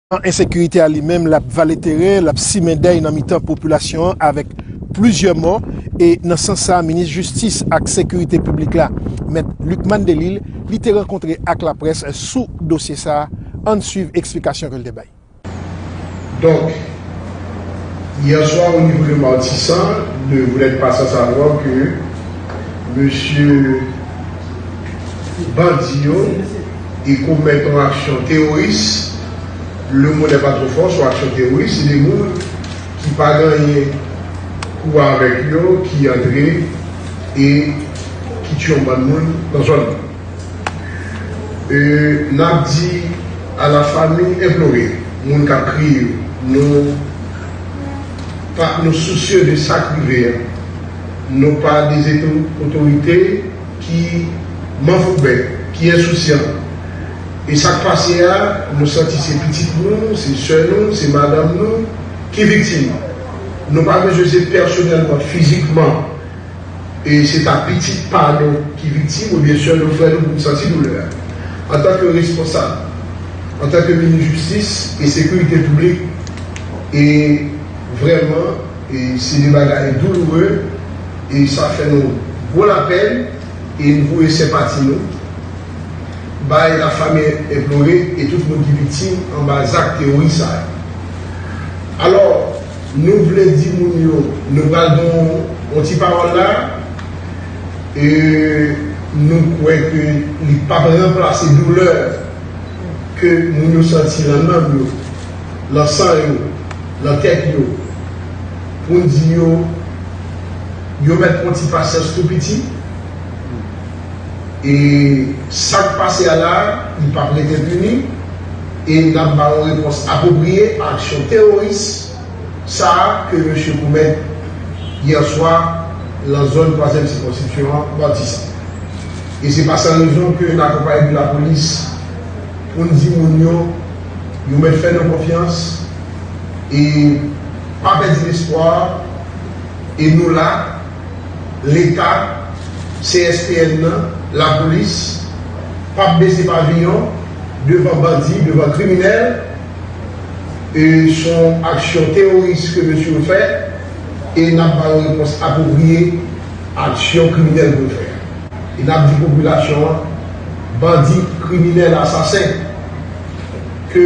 An ensekirite a li menm lap vale terè, lap simen dèy nan mitan popilasyon an avèk plizyè mò e nan sans sa minis jistis ak sekirite piblik la mèt Lucmane Delille li te rankontre ak laprès sou dosye sa ann swiv eksplikasyon ke l te bay. Donk, hier soir au niveau de Martissant, ne vous n'êtes pas sans savoir que mesye bandi yo, e komèt yon aksyon teworis, le mot n'est pas trop fort, sou aksyon teworis, se de moun ki pa gen anyen pou wè avèk yo ki antre e ki tiye yon bann moun nan zòn nan. E n ap di a la famille implorée, moun k ap kriye yo, nou pa nou sousye de sa k rive a, nou pa dezekte otorite, ki manfouben, ki ensousyan. E sa k pase a, nou santi se pitit nou, se sè nou, se madanm nou ki viktim. Nou pa bezwen se pèsonèlman, fizikman, e se ta pitit pa nou ki viktim oubyen sè nou, frè nou pou n santi doulè a. Antanke responsab, antanke minis jistis e sekirite piblik, e vrèman e se de bagay douloure. e sa fè nou gwo lapèn e n voye senpati nou bay lafami enplore e tout moun ki viktim anba zak teworis sa yo. Alò, nou vle di moun yo nou pral gen yon ti pawòl la a e nou kwè ke li p ap ranplase doulè ke moun yo santi lan nanm yo, lan san yo, lan tèt yo. Moun di yo, yo mèt pran ti pasyans tou piti, e sa k pase a la a, li pap ret enpini, e n ap ba yon repons apwopriye a aksyon teworis sa a ke mesye komèt yè swa lan zòn twazyèm sikonskripsyon an, Matisan. E se pa san rezon ke n akonpaye de lapolis pou n di moun yo, yo mèt fè nou konfyans, e. Pa pèdi lespwa e nou la, Leta, CSPN nan, Lapolis, p ap bese paviyon devan bandi, devan kriminèl e s on aksyon teworis ke mesye yo fè e n ap ba yo repons apwopriye aksyon kriminèl ke yo fè a. E n ap di popilasyon an, bandi, kriminèl, asasen ke.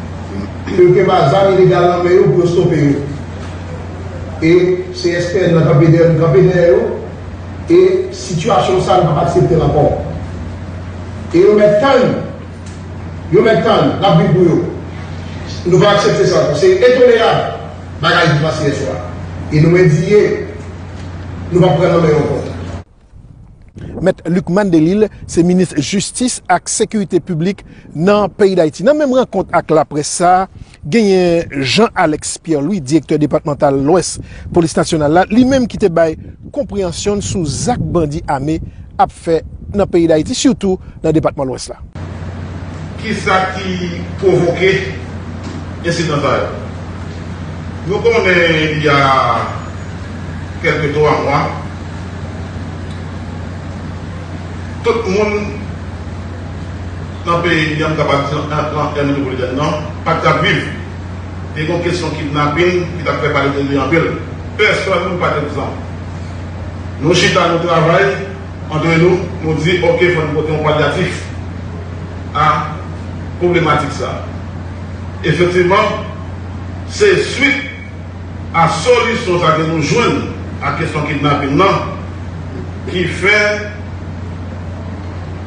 Ke pa zam ilegal nan men yo pou yo stope yo. E CSPN nan kanpe dèyè nou kanpe dèyè yo. E sitiyasyon sa nou pap aksepte l ankò. E yo mèt tann. Yo mèt tann. N ap vin pou yo. Nou pa aksepte sa ankò. Se entolerab bagay ki pase yè swa. E nou endiye. Nou pap pran nan men yo ankò. Mèt Lucmane Delille se minis jistis ak sekirite piblik nan peyi Dayiti. Nan menm rankont ak laprès sa, genyen Jean Alex Pierre Louis, direktè depatmantal Lwès polis nasyonal la, li menm ki te bay konpreyansyon n sou zak bandi ame ap fè nan peyi Dayiti sitou nan depatman Lwès la. Ki sa ki pwovoke ensidan sa yo? Nou konnen il y a kèlke twa mwa, tout moun nan peyi an, m kapab di nan Èl Metwopolitèn nan, pa t ka viv. Te gen yon kesyon kidnapin ki t ap fè pale de li anpil. Pèsòn pa t egzan. Nou chita, nou travay. Antre nou, nou di ok fò n pote yon palyatif a pwoblematik sa a. Efektivman, se swit a solisyon sa ke nou jwenn a kesyon kidnapin lan ki fè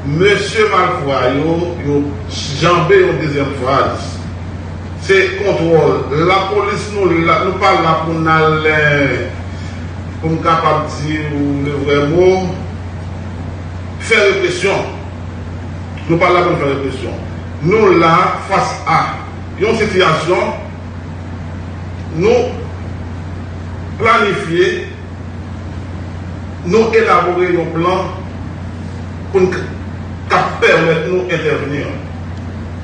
mesye malfra yo, yo janbe yon dezyèm fraz. Se kontwòl lapolis nou la, nou pa la pou n al. Pou m kapab di ou le vrè mo, fè represyon. Nou pa la pou n fè represyon. Nou la fas a yon sitiyasyon, nou planifye, nou elabore yon plan pou n kap pèmèt nou entèvni.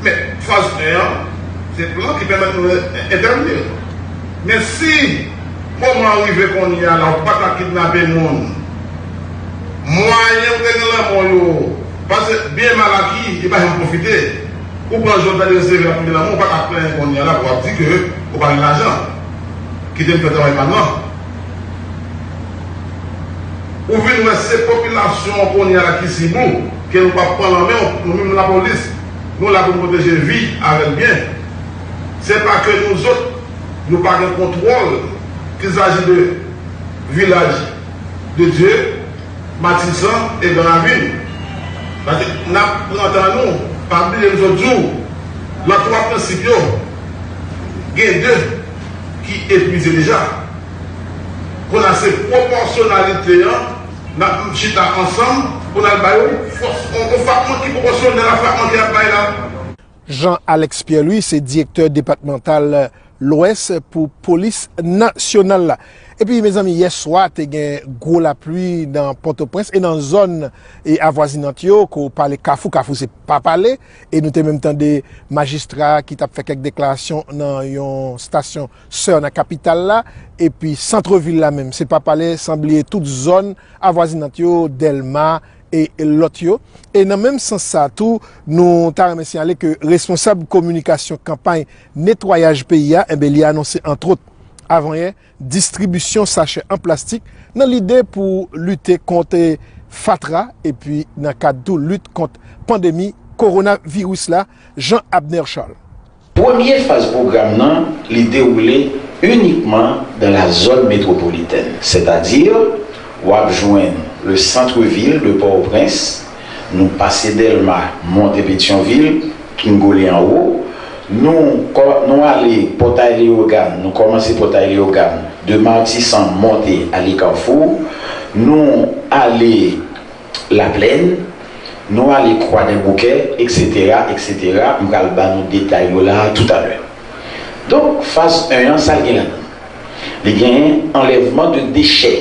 Men, faz 1 an, se plan ki pèmèt nou entèvni. Men si moman an rive konnye a la ou pa ta kidnape moun. Mwayen ou te gen lanmò yo pase byen mal a ki li pa janm pwofite. Ou pran jwèt la deske se vre lap tounen lanmò ou pa ta plenyen konnye a la pou wap di ke ou pa gen lajan. Kite m fè travay pa m lan. Ou vin wè se popilasyon an konnye a la ki sib ou ke nou pap pran lan men w. Nou menm lapolis nou la pou n pwoteje vi avèk byen. Se pa ke nou zot nou pa gen kontwòl kil saji de Vilaj de Dye, Matisan e gran ravin. Pase nap pran tan nou, pa bliye m sot di w lan 3 prensip yo gen 2 ki epwize deja. Konnya se pwopòsyonalite an nap chita ansanm pou nal bay yon fòs, yon fwapman ki pwopòsyonèl a fwapman ke yap bay la. Jean Alex Pierre-Louis se direktè depatmantal Lwès pou polis nasyonal la. Epi mezanmi yè swa te gen gwo lapli nan Pòtoprens e nan zòn avwazinant yo ke w pale Kafou, Kafou se pa pale e nou te menm tande majistra ki t ap fè kèk deklarasyon nan yon stasyon sè nan kapital la epi santrevil la menm se pa pale san bliye tout zòn avwazinant yo Dèlma e lòt yo. E nan menm sans sa a tou, nou ta renmen siyale ke responsab kominikasyon kanpay netwayaj peyi a, enben li anonse antwot, avanyè distribisyon sachè an plastik nan lide pou lite kont fatra epi nan kad tou lit kont pandemi kowonaviris la, Jean Abner Charles. Premye faz pwogram nan li dewoule inikman dan la zòn metwopolitèn, sètadi w ap jwenn le centre ville de Port-au-Prince, nou pase Dèlma monte Petyonvil, Kngolle anwo, nou nou ale Pòtay Leyogàn, nou kòmanse Pòtay Leyogàn, de Matisan monte ale Carrefour, nou ale. Laplèn, nou ale Kwadèboukè, eksetera, eksetera, m pral ban nou detay yo la a toutalè. Donk, faz 1 an, sa l gen ladan l? Li genyen anlèvman de dechè,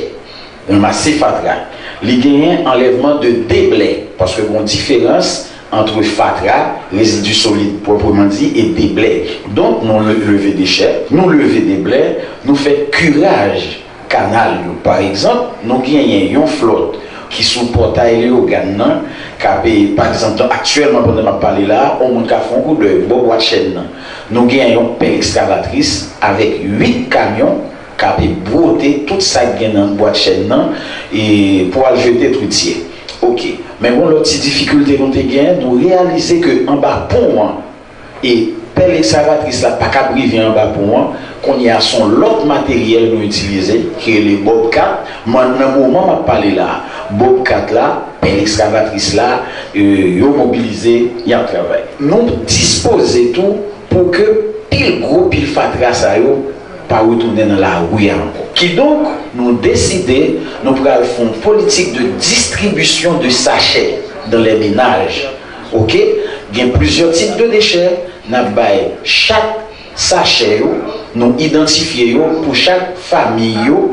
ranmase fatra. Li genyen anlèvman de deblè, paske gen yon diferans antre fatra, rezidi solid pwòpreman di, e deblè. Donk, nou leve dechè, nou leve deblè, nou fè kiraj Kanal yo. Pa egzanp, nou genyen yon flòt ki sou Pòtay Leyogàn nan k ape, pa egzanp, donk aktyèlman pandan m ap pale la a, yon moun ka fè yon koudèy bò Bwadchèn nan, nou genyen yon pèl ekskavatris avèk 8 kamyon k ape bwote tout sa k gen nan Bwadchèn nan e pou al jete twityè. Oke. Men gon lòt ti difikilte nou te gen, nou reyalize ke anba pon an, E pèl ekskavatris la pa kab rive anba pon an, kounye a son lòt materyèl nou itilize ki rele bobcat, m'en nan moman m'ap pale la a, bobcat la, pèl ekskavatris la, yo mobilize, y'ap travay. Nou dispoze tou pou ke pil gwo pil fatra sa yo pa retounen nan lari a ankò. Kidonk, nou deside nou pral f'on politik de distribisyon de sachè dans les ménages. Ok gen plizyè tip de dechè nap bay chak sachè yo nou idantifye yo pou chak famiy yo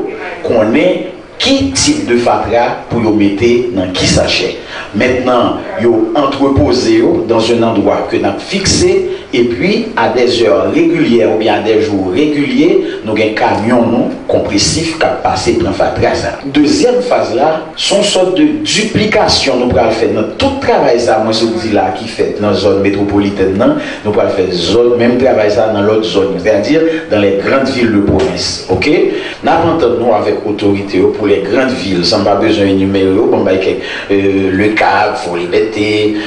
konnen ki tip de fatra pou yo mete nan ki sachè mentnan yo antrepoze yo dans un endroit ke nap fikse epi a dè zè regilyè oubyen a dè jou regilye nou gen kamyon nou konpresif kap pase pran fatra sa. Dezyèm faz la. S on sòt de diplikasyon nou pral fè nan tout travay sa mwen sot di la ki fèt nan zòn metwopolitèn nan, nou pral fè zòn menm travay sa nan lòt zòn yo, sètadi dans les grandes villes de province ok. N ap antann nou avèk otorite yo pou les grandes villes san m pa bezwen enimere yo, bon m bay kèk, Le Cap, Fort Liberté,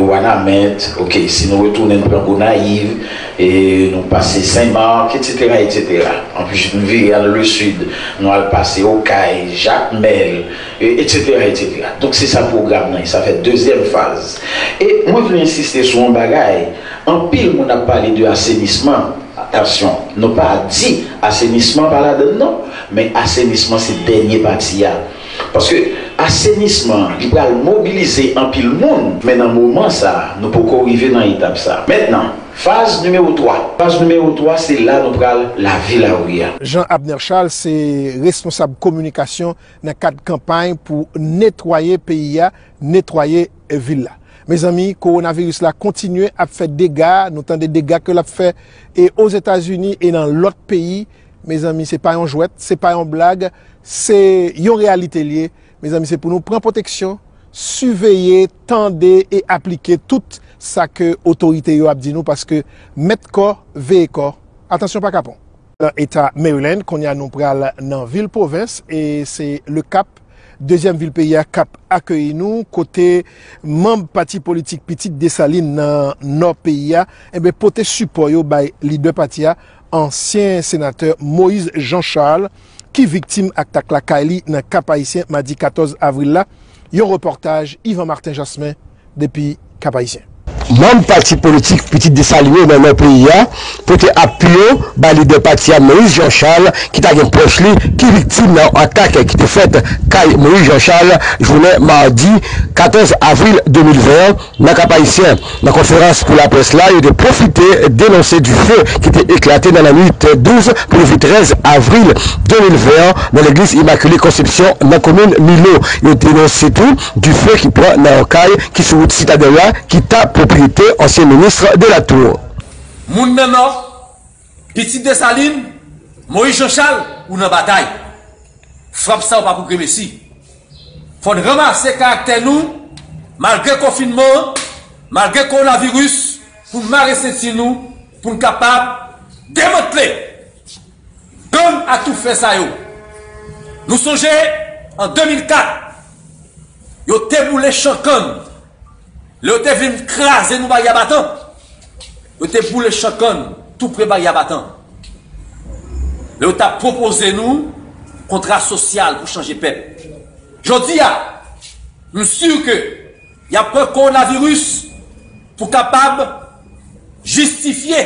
Wanament ok, si nou retounen n pran Gonayiv. E nou pase Sen Marc etsetera etsetera anpi nou vire al le Sud nou al pase Okay, Jakmèl etsetera etsetera donk se sa pwogram nan ye sa fè dezyèm faz e mwen vle ensiste sou yon bagay anpil moun ap pale de asenisman atansyon nou pa di asenisman pa ladann non men asenisman se dènye pati a. Paske asenisman an li pral mobilize anpil moun. Men nan moman sa a, nou poko rive nan etap sa a. Mentnan, faz nimewo 3. Faz nimewo 3 se la nou pral lavi lari a. Jean Abner Charles se responsab kominikasyon nan kad kanpay pou netwaye peyi a, netwaye vil la. Mezanmi, kowonaviris la kontinye ap fè dega, nou tande dega ke l ap fè e Ozetazini e nan lòt peyi Mezanmi se pa yon jwèt, se pa yon blag, se yon reyalite l ye. Mezanmi se pou nou pran pwoteksyon, siveye, tande e aplike tout sa ke otorite yo ap di nou paske mèt kò veye kò. Atansyon pa kapon! Nan eta Maryland, kounye a nou pral nan vil pwovens e se Le Cap, dezyèm vil peyi a k ap akeyi nou, kote manb pati politik Pitit Desalin nan nò peyi a, enben pote sipò yo bay lidè pati a, Ansyen senatè Moïse Jean Charles ki viktim aktak lakay li nan Kap-Ayisyen madi 14 avril la, yon repòtaj Yvan Martin Jasmin depi Kap-Ayisyen. Manm pati politik Pitit Desalin yo nan nò peyi a pote apui yo bay lidè pati a Moïse Jean Charles ki ta gen pwòch li ki viktim nan yon atak ki te fèt kay Moïse Jean Charles jounen madi 14 avril 2020 an Nan Kap-Ayisyen, nan konferans pou laprès la, yo te pwofite denonse dife ki te eklate nan lannuit 12 pou leve 13 avril 2020 an nan legliz Imakile Konsepsyon nan komin Milo. Yo denonse tou dife ki pran nan yon kay ki sou wout Sitadèl la ki ta pwopriyete ansyen minis Delatour. Moun nan Nò. Pitit Desalin, Moyiz Janchal, ou nan batay. Frap sa ou pa pou gremesi. Fò n ranmase karaktè nou malgre konfinman an, malgre kowonaviris pou n mare senti nou pou n kapab demantle gang atoufè sa yo. Nou sonje an 2004 yo te boule chan kann. Lè yo te vin kraze nou Baryè Batan, yo te boule chan kann tou pre Baryè Batan. Lè yo t ap pwopoze nou kontra sosyal pou chanje pèp. Jodi a, m si ke y ap pran kowonaviris pou kapab jistifye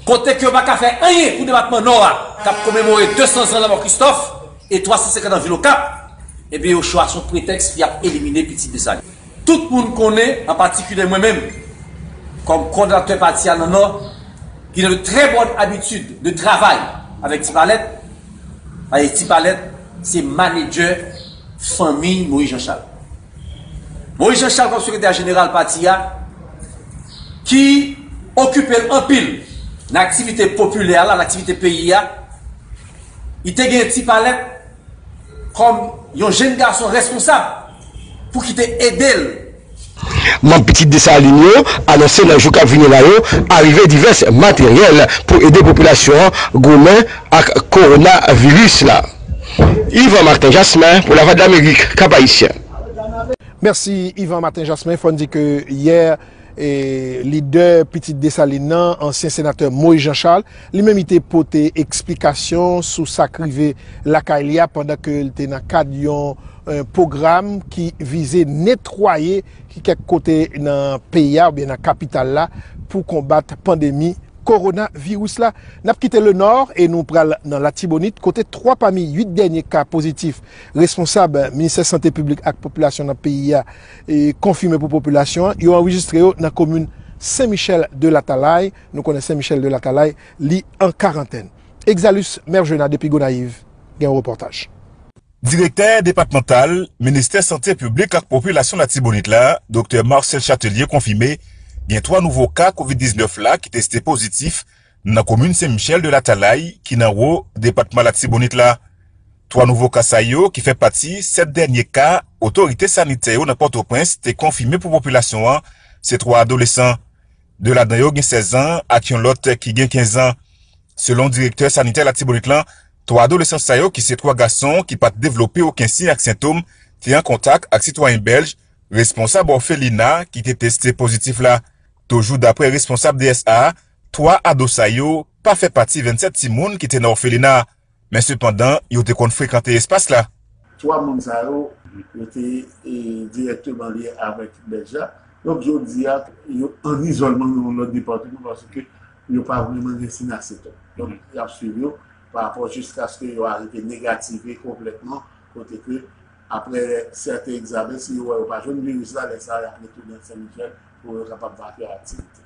Kote ke yo pa ka fè anyen pou depatman Nò a k ap komemore 200 zan lanmò Kristòf e 350 an vil Okap, ebyen yo chwa sou pretèks y ap elimine pitit Desalin. Tout moun konnen, an patikilye mwen menm, kòm kòdonatè pati a nan Nò, ki nan de trè bòn abitid de travay avèk Ti Palèt, paske Ti Palèt se manedjè fanmiy Moyiz Janchal. Moïse Jean Charles kòm sekretè jeneral pati a ki okipe l anpil nan aktivite popilè la, nan aktivite peyi a, li te gen Ti Palèt kòm yon jenn gason reskonsab pou ki te ede l. Manm Pitit Desalin yo anonse nan jou k ap vini la yo arive divès materyèl pou ede popilasyon an goumen ak Kowonaviris la. Yvan Martin Jasmin pou Lavwadlamerik, Kap Ayisyen. Mèsi Yvan Martin Jasmin, fò n di ke yè lidè pitit Desalin nan, ansyen senatè Moïse Jean Charles, li menm li te pote eksplikasyon sou sa k rive lakay li a pandan ke l te nan kad yon pwogram ki vize netwaye kèk kote nan peyi a oubyen nan kapital la pou konbat pandemi Korona viris la, n ap kite le Nord e nou pral nan Latibonit kote 3 pami 8 dènye ka pozitif responsab Ministè Sante Piblik ak Popilasyon nan peyi a konfime pou popilasyon an, yo anrejistre yo nan komin Sen Michèl de Latalay, nou konnen Sen Michèl de Latalay li an karantèn. Exalus Mergena depi Gonayiv gen yon repòtaj. Direktè depatmantal Ministè Sante Piblik ak Popilasyon Latibonit la, Doktè Marcel Chatelier konfime gen 3 nouvo ka kovid 19 la ki teste pozitif nan komin Sen Michel de Latalay ki nan wo depatman Latibonit la. 3 nouvo ka sa yo ki fè pati 7 dènye ka otorite sanitè yo nan Pòtoprens te konfime pou popilasyon an se 3 adolesan. 2 ladan yo gen 16 an ak yon lòt ki gen 15 an. Selon direktè sanitè Latibonit lan, 3 adolesan sa yo ki se 3 gason ki pat devlope oken siy ak sentom te an kontak ak sitwayen bèlj responsab òfelina ki te teste pozitif la. Toujou daprè responsab DSA a, 3 ado sa yo pa fè pati 27 timoun ki te nan òfelina a. men sepandan yo te konn frekante espas la. Twa moun sa yo, yo te dirèkteman lye avèk Bèlj la, donk jodi a, yo ann izòlman nan yon lòt depatman paske yo pa vrèman gen sin aseton. Donk, y ap suiv yo pa rapò jiskaske yo arive negative konplètman kote ke aprè sèten egzamen, si yo wè yo pa jwenn viris la, lè sa a y ap retounen Sen Michèl pou yo kapab va fè aktivite.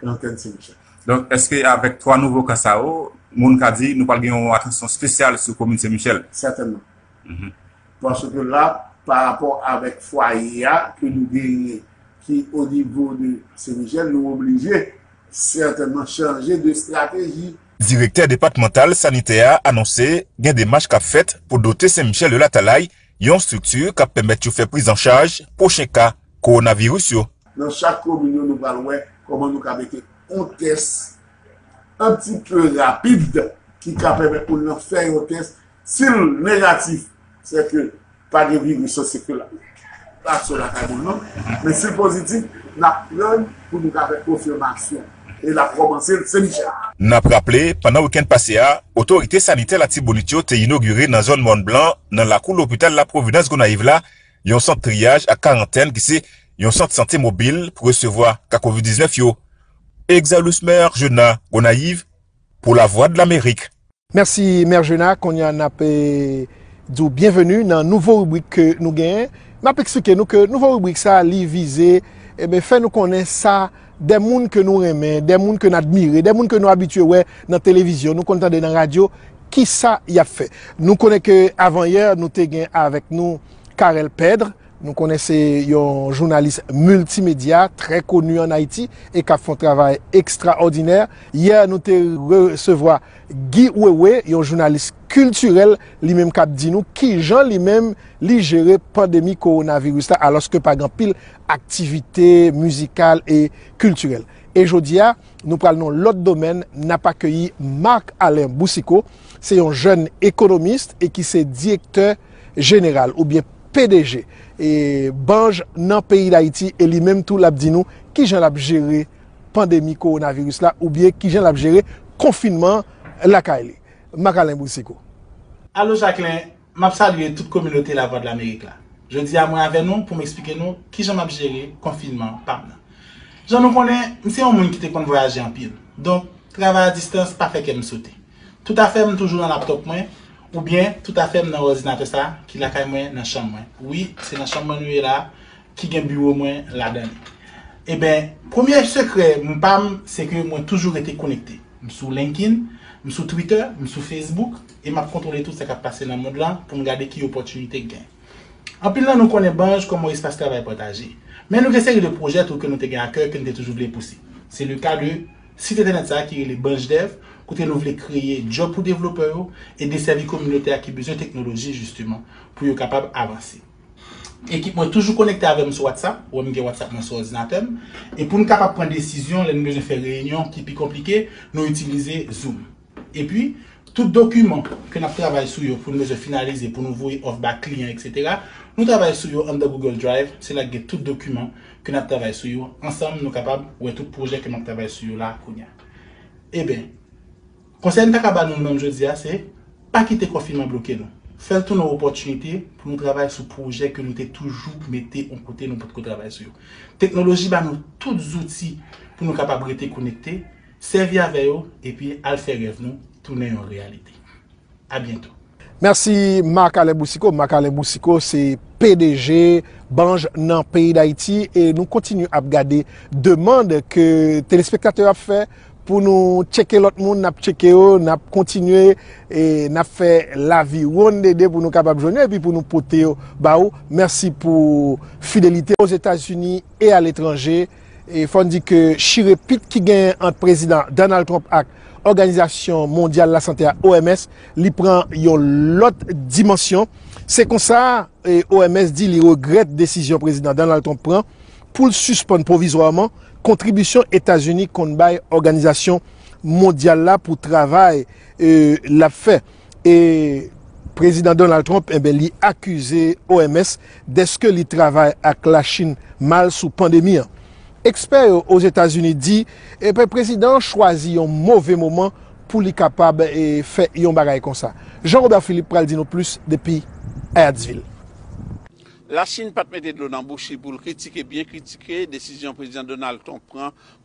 karantèn 5 jou. Donk, èske avèk 3 nouvo ka sa yo, moun ka di nou pral gen yon atansyon spesyal sou komin Sen Michèl? Sètènman. Paske la, pa rapò avèk fwaye a ke nou genyen ki o nivo de Sen Michèl, nou oblije sètènman chanje de strateji. Direktè depatmantal sanitè a anonse gen demach k ap fèt pou dote Sen Michèl de Latalay yon estrikti k ap pèmèt yo fè prizanchaj pwochen ka kowonaviris yo. Nan chak komin yo nou pral wè kòman nou ka mete yon tès an ti pe rapid ki ka pèmèt moun lan fè yon tès si l negatif se ke pa gen viris lan se ke l pa sou lakay moun lan men si l pozitif n ap tann pou nou ka fè konfimasyon e l ap kòmanse l Senmichèl. N ap raple pandan wikenn pase a otorite sanitè Latibonit yo te inogire nan zòn Mòn Blan nan lakou lopital La Providence Gonayiv la yon sant triyaj ak karantèn ki se yon sant sante mobil pou resevwa ka kovid 19 yo. Exalusmer Jeuna, Gonayiv, pou Lavwadlamerik. Mèsi Mère Jeuna, kounye a nap di w byenveni nan nouvo ribrik ke nou genyen. Nap eksplike nou ke nouvo ribrik sa li vize fè nou konnen sa. Dè moun ke nou renmen, dè moun ke n admire, dè moun ke nou abitye wè nan televizyon, nou konn tande nan radyo, ki sa y ap fè? Nou konnen ke avanyè nou te gen avèk nou Carel Pedre, nou konnen se yon jounalis miltimedya trè koni an Ayiti e k ap fè yon travay ekstraòdinè. Yè nou te resevwa Guy Wewe, yon jounalis kiltirèl, li menm k ap di nou kijan li menm li jere pandemi kowonaviris la alòske pa gen anpil aktivite mizikal e kiltirèl. E jodi a, nou pral nan yon lòt domèn, n ap akeyi Marc Alain Boucicaut, se yon jèn ekonomist e ki se direktè jeneral oubyen pdg Banj nan peyi Dayiti e li menm tou l ap di nou kijan l ap jere pandemi kowonaviris la oubyen kijan l ap jere konfinman lakay li. Marc Alain Boucicaut. Alo Jacquelin, M ap salye tout kominote Lavwadlamerik la. Jodi a mwen avè nou pou m eksplike nou kijan m ap jere konfinman pa m nan. Jan nou konnen, m se yon moun ki te konn vwayaje anpil, donk travay a distans pa fè kè m sote. Tout afè m toujou nan laptop mwen, oubyen tout afè m nan òdinatè sa ki lakay mwen nan chanm mwen. Wi, se nan chanm mwen nou ye la a, ki gen biwo mwen ladan li. Eben, premye sekrè m pa m se ke mwen toujou rete konekte. M sou LinkedIn, m sou Twitter, m sou Facebook. e m ap kontwole tout sa k ap pase nan mond lan pou m gade ki opòtinite k gen. Anpil nan nou konnen banj kòm yon espas travay pataje. Men nou gen seri de pwojè tou ke nou te gen akè ke n te toujou vle pouse. Se le ka de sit entènèt sa a ki rele BanjDev kote nou vle kreye djòb pou devlopè yo e desèvi kominote a ki bezwen teknoloji jisteman pou yo kapab avanse. Ekip mwen toujou konekte avè m sou WhatsApp, wè m gen WhatsApp mwen sou òdinatè m, e pou n kapab pran desizyon lè nou bezwen fè reyinyon ki pi konplike, nou itilize Zoom. Epi, tout dokiman ke nap travay sou yo poun bezwen finalize pou nou voye òf ba kliyan etc. Nou travay sou yo anndan Google Drive, se la k gen tout dokiman ke nap travay sou yo, ansanm nou kapab wè tout pwojè ke map travay sou yo la kounya. Eben, konsèy m ta ka ba nou menm jodi a se, pa kite konfinman bloke nou. Fè l tounen opòtinite pou nou travay sou pwojè ke nou te toujou mete on kote nou potko travay sou yo. Teknoloji ba nou tout zouti pou nou kapab rete konekte, Sèvi avè yo epi al fè rèv nou tounen yon reyalite. A byento. Mèsi Marc Alain Boucicaut. Marc Alain Boucicaut se pdg Banj nan peyi Dayiti e nou kontinye ap gade demand ke telespektatè yo ap fè pou nou tcheke lòt moun, n ap tcheke yo, n ap kontinye e n ap fè laviwonn dede pou nou kapab jwenn yo epi pou nou pote yo ba ou. Mèsi pou fidelite. Ozetazini e aletranje. E fò n di ke chire pit ki genyen ant Prezidan Donald Trump ak Òganizasyon Mondyal Lasante a, OMS, li pran yon lòt dimansyon. Se konsa, OMS di li regrèt desizyon Prezidan Donald Trump pran pou l sispann pwovizwaman kontribisyon Etazini konn bay òganizasyon mondyal la pou travay l ap fè. E Prezidan Donald Trump enben li akize OMS deske li travay ak Lachin mal sou pandemi an. Ekspè yo Ozetazini di enben prezidan an chwazi yon move moman pou li kapab fè yon bagay konsa. Jean Robert Philippe pral di nou plis depi Hyattsville. Lachin pat mete dlo nan bouch li pou l kritike byen kritike desizyon Prezidan Donald Trump pran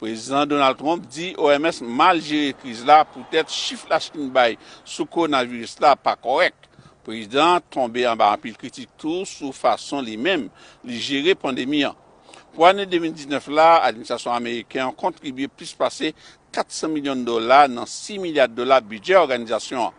Prezidan Donald Trump di OMS mal jere kriz la poutèt chif la Chin bay sou kowonaviris la pa kòrèk. Prezidan an tonbe anba anpil kritik tou sou fason li menm li jere pandemi an. Pou ane 2019 la, administrasyon ameriken an kontribye plis pase 400 milyon dola nan 6 milya dola bidjè òganizasyon an.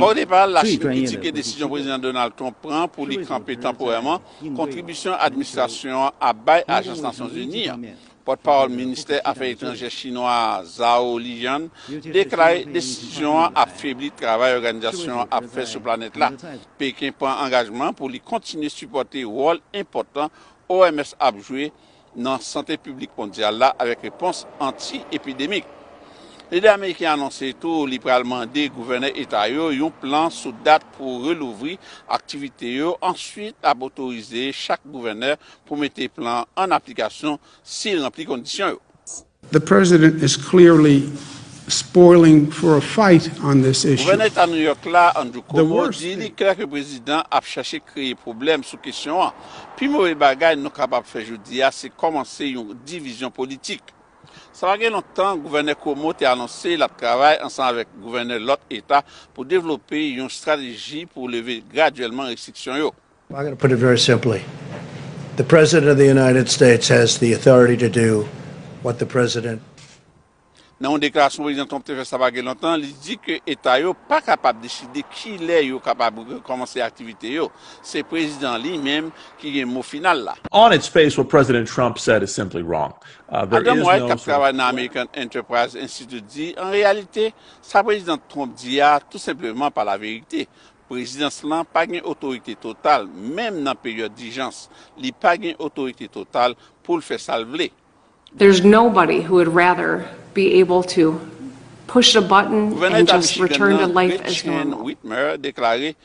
Odepa, Lachin kritike desizyon Prezidan Donald Trump pran pou li kanpe tanporèman kontribisyon administrasyon an ap bay ajans Nasyonzini an. Pòtpawòl ministè afè etranjè chinwa a, Zhao Lijian, deklare desizyon an ap febli travay òganizasyon an ap fè sou planèt la. Peken pran angajman pou li kontinye sipòte wòl enpòtan OMS ap jwe nan sante piblik mondyal la avèk repons anti-epidemik. Lidè ameriken an anonse tou li pral mande gouvènè eta yo yon plan sou dat pou relouvri aktivite yo, answit l ap otorize chak gouvènè pou mete plan an aplikasyon si l ranpli kondisyon yo. The president is clearly spoiling for a fight on this issue. Gouvènè Eta New York la, Andrew Cuomo, di li klè ke prezidan ap chache kreye pwoblèm sou kesyon an. Pi move bagay nou kapab fè jodi a se kòmanse yon divizyon politik. Sa pa gen lontan, Gouvènè Cuomo te anonse l ap travay ansanm avèk gouvènè lòt eta pou devlope yon estrateji pou leve gradyèlman restriksyon yo. I'm gonna put it very simply, the president of the United States has the authority to do what the president. Nan yon deklarasyon Prezidan Trump te fè sa pa gen lontan, li di ke eta yo pa kapab deside kilè yo kapab rekòmanse aktivite yo. Se prezidan an li menm ki gen mo final la. On its face, what President Trump said is simply wrong. There Adam is White, k no ap sort of travay nan threat. American Enterprise Institute di, An reyalite, sa Prezidan Trump di a tou senpleman pa laverite. Prezidans lan pa gen otorite total, menm nan peryòd dijans, li pa gen otorite total pou l fè sa l vle. There's nobody who would rather be able to push a button Gouvènè and Eta just Michigan return nan, to life as Gretchen normal. Whitmer, deklare,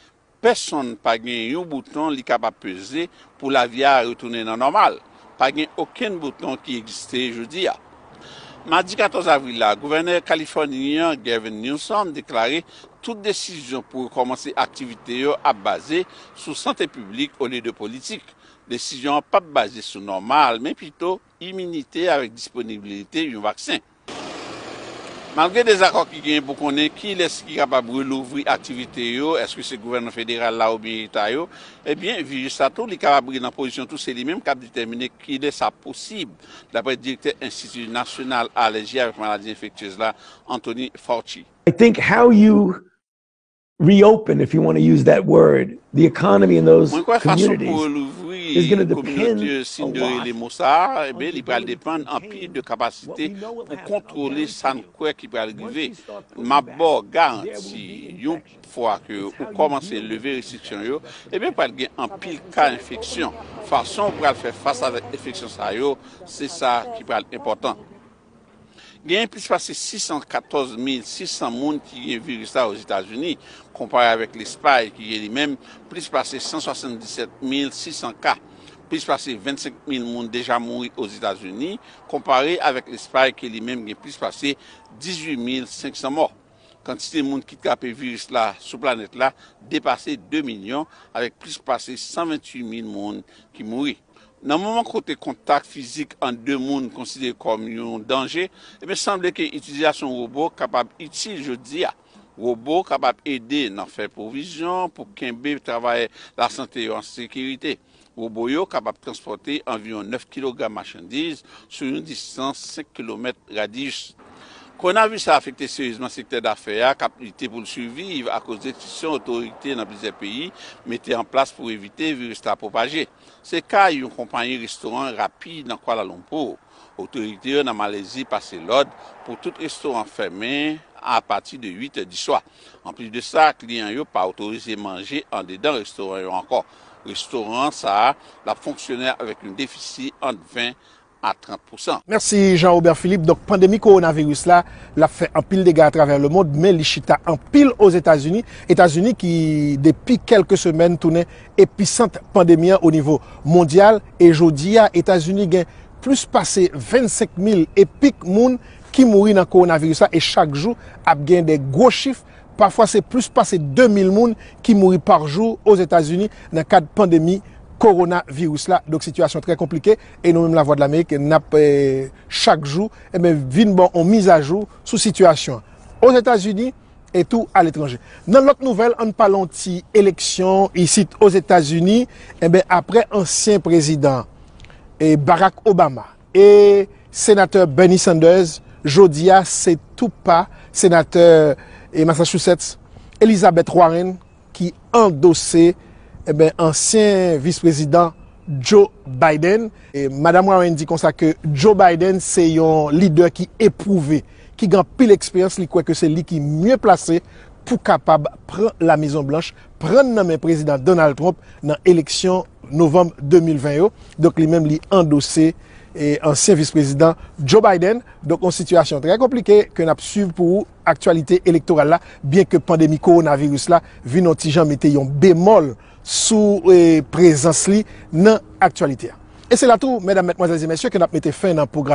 Pèsonn pa gen yon bouton li kapab peze pou lavi a retounen nan nòmal. pa gen okenn bouton ki egziste jodi a. Madi 14 avril la, Gouvènè Kalifòni an, Gavin Newsom, deklare tout desizyon pou rekòmanse aktivite yo ap baze sou sante piblik olye de politik. Desizyon an pap baze sou nòmal, men pito iminite avèk disponibilite yon vaksen. Malgre dezakò ki genyen pou konnen kilès ki kapab relouvri aktivite yo, èske se gouvènman federal la oubyen eta yo, ebyen viris sa tou li kapab ri nan pozisyon tou se li menm kap detèmine kilè sa posib, daprè direktè enstiti nasyonal alèji avèk maladi enfektyez la Anthony Fauci. I think how you reopen if you want to use that word the economy in those communities. Mwen kwè fason pou relouvri kominote yo si n de rele mo sa a, enben li pral depann anpil de kapasite pou kontwole sa n kwè ki pral rive. M ap ba w garanti yon fwa ke ou kòmanse leve restriksyon yo, enben pral gen anpil ka enfeksyon. Fason ou pral fè fas avèk enfeksyon sa yo se sa ki pral enpòtan. Genyen plis pase 614 mil 600 moun ki gen viris la Ozetazini, konpare avèk Lespay ki gen li menm plis pase 177 mil 600 ka. Plis pase 25 mil moun deja mouri Ozetazini, konpare avèk Lespay ke li menm gen plis pase 18 mil 500 mò. Kantite moun ki trape viris la sou planèt la depase 2 milyon, avèk plis pase 128 mil moun ki mouri. Nan moman kote kontak fizik ant de moun konsidere kòm yon danje, ebyen sanble ke itilizasyon wobo kapab itil jodi a. Wobo kapab ede nan fè pwovizyon pou kenbe travayè lasante yo an sekirite. Wobo yo kapab transpòte anviwon 9 kilogram machandiz sou yon distans 5 kilomèt radiyis. Kowonavis la afekte seryezman sektè dafè a k ap lite pou l siviv akoz restriksyon otorite nan plizyè peyi mete an plas pou evite viris la pwopaje. Se ka yon konpayi restoran rapid nan Kuala Lumpur. Otorite yo nan Malezi pase lòd pou tout restoran fèmen apati de 8 è diswa. Anplis de sa, kliyan yo pa otorize manje andedan restoran yo ankò. Restoran sa a ap fonksyone avèk yon defisi ant 20 a 30 pousan. Mèsi Jean Robert Philippe, donk pandemi kowonaviris la lap fè anpil dega atravè lemond men li chita anpil Ozetazini, Etazini ki depi kèlke semèn tounen episant pandemi an onivo mondyal e jodi a Etazini gen plis pase 25 mil epik moun ki mouri nan kowonaviris la e chak jou ap gen de gwo chif pafwa se plis pase 2 mil moun ki mouri par jou Ozetazini nan kad pandemi kowonaviris la donk sitiyasyon trè konplike. E nou menm Lavwadlamerik nap chak jou enben vin ba w yon mizajou sou sitiyasyon an Ozetazini e tou aletranje. Nan lòt nouvèl ann pale yon ti eleksyon isit Ozetazini enben aprè ansyen prezidan Barack Obama e senatè Bernie Sanders jodi a se tou pa senatè Massachusetts Elizabeth Warren ki andose ansyen vis prezidan Joe Biden. Madam Warren di konsa ke Joe Biden se yon lidè ki epwouve, ki gen anpil eksperyans, li kwè ke se li ki mye plase pou kapab pran La Mezon Blanch, pran nan men Prezidan Donald Trump nan eleksyon Novanm 2020 yo. Donk li menm li andose ansyen vis prezidan Joe Biden. Donk yon sitiyasyon trè konplike ke n ap swiv pou ou. aktyalite elektoral la, byen ke pandemi kowonaviris la vin on ti jan mete yon bemòl sou prezans li nan aktyalite a. E se la tou, mèdam, mètmwazèl e mèsye, ke n ap mete fen nan pwogra.